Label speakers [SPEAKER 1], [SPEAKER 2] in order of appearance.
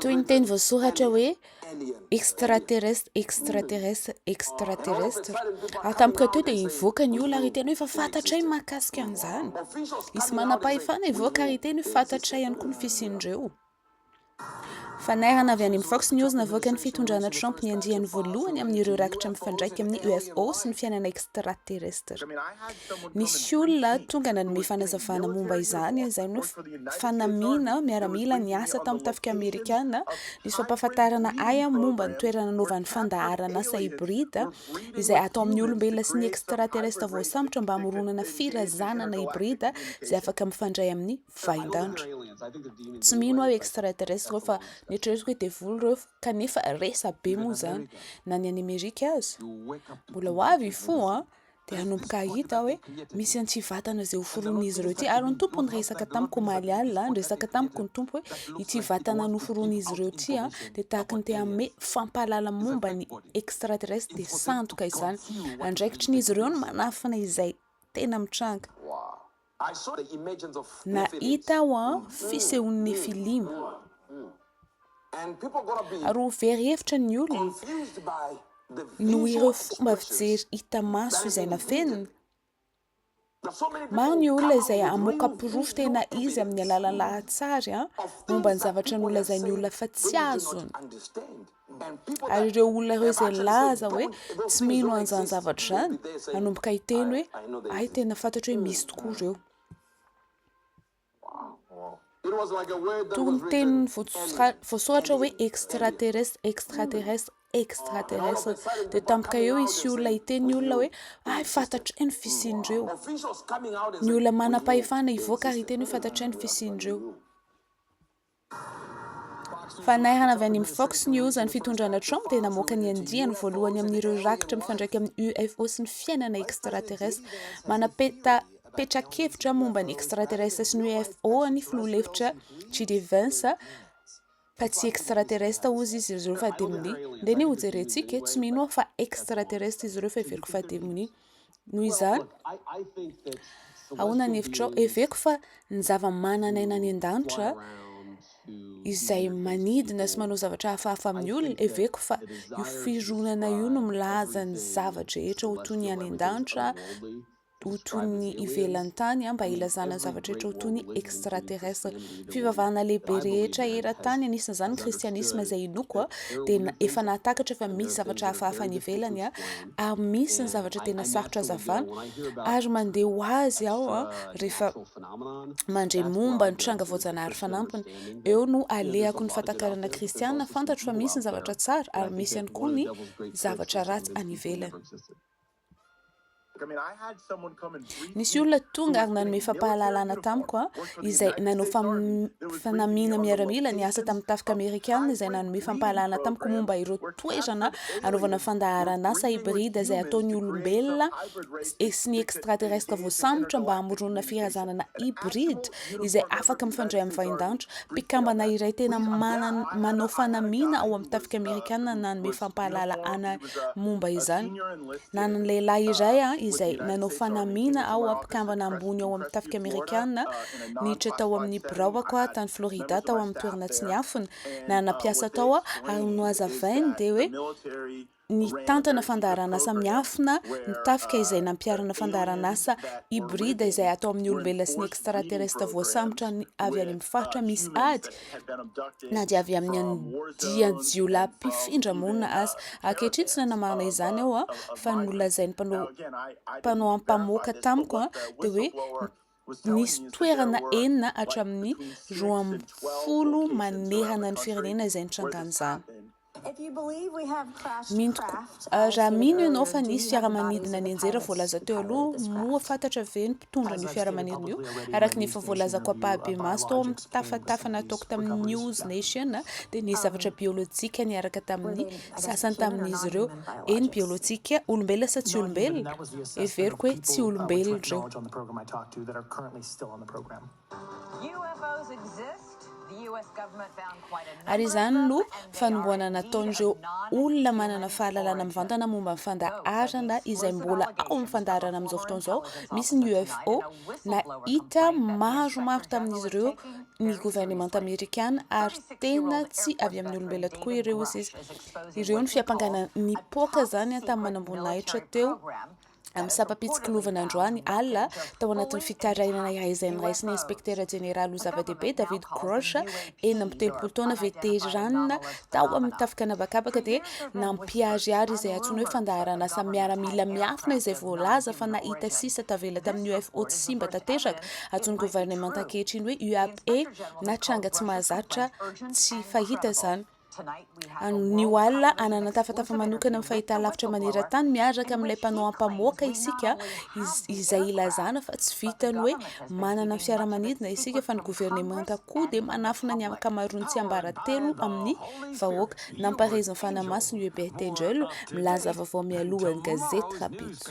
[SPEAKER 1] Toy ny teny voasoratra hoe extraterrestre, extraterrestre, extraterrestre. Ary tampoka teo dia hivoaka ny olona ary hiteny hoe efa fantatray ny mahakasika an'izany. Hisy manam-pahefana hivoaka ary hiteny hoe fantatray ihany koa ny fisian'ireo. Fanairana avy any amin'ny Fox News navoakan'ny fitondrana Trump ny andiany voalohany amin'ireo rakitra mifandraika amin'ny UFO sy ny fiainana extraterrestre. Nisy olona tonga nanome fanazavana momba izany, izay no fanamiana miaramila niasa tamin'ny tafika Amerikana, nisy fampahafantarana ahy momba ny toerana nanaovan'ny fandaharan'asa hybride izay atao amin'ny olombelona sy ny extraterrestre voasambotra mba hamoronana firazanana hybride izay afaka mifandray amin'ny vahin-danitra. Tsy mino aho extraterrestre reo fa netreretiko hoe devoly reo kanefa resa be moa zany na ny any Amerika aza. Mbola ho avy fo a dia hanomboka hahita hoe misy an'ity vatana izay hoforonin'izy ireo ity ary ny tompo ny resaka tamiko omaly alina ny resaka tamiko ny tompo hoe ity vatana noforonin'izy ireo ity a dia tahaka ny te hanome fampahalala momba ny extraterrestre dia sandoka izany andraikitry n'izy ireo ny manafina izay tena mitranga Nahita aho fisehon'ny Nefilima, ary ho very hevitra ny olona noho ireo fomba fijery hita maso izay nafenina. Maro ny olona izay hamoaka porofo tena izy amin'ny alalan'ny lahatsary momba ny zavatra nolazain'ny olona fa tsy azony. Ary ireo olona ireo izay nilaza hoe tsy mino an'izany zavatra izany, hanomboka hiteny hoe hay tena fantatro hoe misy tokoa ireo. Toy ny teny voasoratra hoe extraterrestre, extraterrestre, extraterrestre. Dia tampoka eo hisy olona hiteny ny olona hoe hay fantatray ny fisian'ireo. Ny olona manam-pahefana hivoaka ary hiteny hoe fantatray ny fisian'ireo. Fanahana avy any amin'ny Fox News, ny fitondrana Trump dia namoaka ny andiany voalohany amin'ireo rakitra mifandraika amin'ny UFO sy ny fiainana extraterrestre. Manapeta petra-kevitra momba ny extraterrestre sy ny UFO ny filoha lefitra JD Vance, fa tsy extraterrestre hozy izy ireo fa demonia. Ndeha anie hojerentsika e, tsy mino aho fa extraterrestre izy ireo fa heveriko fa demonia. Noho izany, ahoana ny hevitrao? Heveko fa ny zava-manan'aina any an-danitra izay manidina sy manao zavatra hafahafa amin'ny olona, heveko fa io fironana io no milaza ny zava-drehetra ho toy ny any an-danitra, ho toy ny ivelan'ny tany, mba hilazana ny zavatra rehetra ho toy ny extraterrestre. Fivavahana lehibe rehetra eran-tany, anisan'izany ny kristianisma izay inoako, dia efa nahatakatra fa misy zavatra hafahafa any ivelany. ary misy ny zavatra tena sarotra azavana ary mandeha ho azy aho rehefa mandre momba ny tranga voajanahary fanampiny eo no alehako ny fatakarana kristiana fantatro fa misy ny zavatra tsara ary misy ihany koa ny zavatra ratsy any ivelany Nisy olona tonga ary nanome fampahalalana tamiko, izay nanao fanamiana miaramila niasa tamin'ny Tafika Amerikana izay nanome fampahalalana tamiko momba ireo toerana anaovana fandaharanasa hybride izay ataon'ny olombelona sy ny extraterrestre voasambotra mba hamoronana firazanana hybride izay afaka mifandray amin'ny vahindanitra. Mpikambana iray tena manao fanamiana ao amin'ny Tafika Amerikana nanome fampahalalana momba izany. Nanana lehilahy iray izay nanao fanamiana ho mpikambana ambony ao amin'ny Tafika Amerikana niditra tao amin'ny biraoko tany Florida tao amin'ny toerana tsy niafina. Nanana mpiasa tao ary ny nohazavainy dia hoe nitantana fandaharanasa miafina ny Tafika izay nampiharana fandaharanasa hibrida izay atao amin'ny olombelona sy ny extraterrestres voasambotra avy any amin'ny faritra misy ady na dia avy amin'ny andian-jiolahy mpifindra monina aza. Ankehitriny, tsy nanamarina izany aho, fa ny nolazain'ny mpanao mpanao ampamoaka tamiko dia hoe nisy toerana enina hatramin'ny roa ambin'ny folo manerana ny firenena izay nitrangan'izany. Mino tokoa. Raha mino ianao fa nisy fiaramanidina nianjera voalaza teo aloha, moa fantatra ve ny mpitondra an'io fiaramanidina io? Araka ny efa voalazako ampahibemaso tao amin'ny tafatafa nataoko tamin'ny News Nation, dia nisy zavatra biolojika niaraka tamin'ny sasany tamin'izy ireo. Eny, biolojika. Olombelona sa tsy olombelona? Heveriko hoe tsy olombelona ireo. Ary izany no fanombohana nataon'ireo olona manana fahalalana mivantana momba ny fandaharana izay mbola ao amin'ny fandaharana amin'izao fotoana izao, misy ny UFO, nahita maromaro tamin'izy ireo ny governemanta amerikana ary tena tsy avy amin'ny olombelona tokoa ireo, hoy izy. Ireo no fiampangana nipoaka izany tamin'ny manamboninahitra teo. amin'ny sampam-pitsikilovana androany alina tao anatin'ny fitarainana iray izay noraisin'ny inspektera jeneraly ho zava-dehibe David Grosh, enina amby telopolo taona veteranina tao amin'ny tafika an'habakabaka dia nampiharihary izay antsoina hoe fandaharanasa miaramila miafina izay voalaza fa nahita sisa tavela tamin'ny UFO tsy simba tanteraka antsoin'ny governemanta ankehitriny hoe UAP na tranga tsy mahazatra tsy fahita izany. Ny ho alina, hanana tafatafa manokana amin'ny fahitalavitra maneran-tany miaraka amin'ilay mpanao ampamoaka isika, izay ilazana fa tsy vitan'ny hoe manana fiaramanidina isika fa ny governemanta koa dia manafina ny ankamaroan'ny tsiambaratelo amin'ny vahoaka. Nampahery izany fanahy masina i Hubert Angel, milaza vaovao mialohan'ny gazety Rabitso.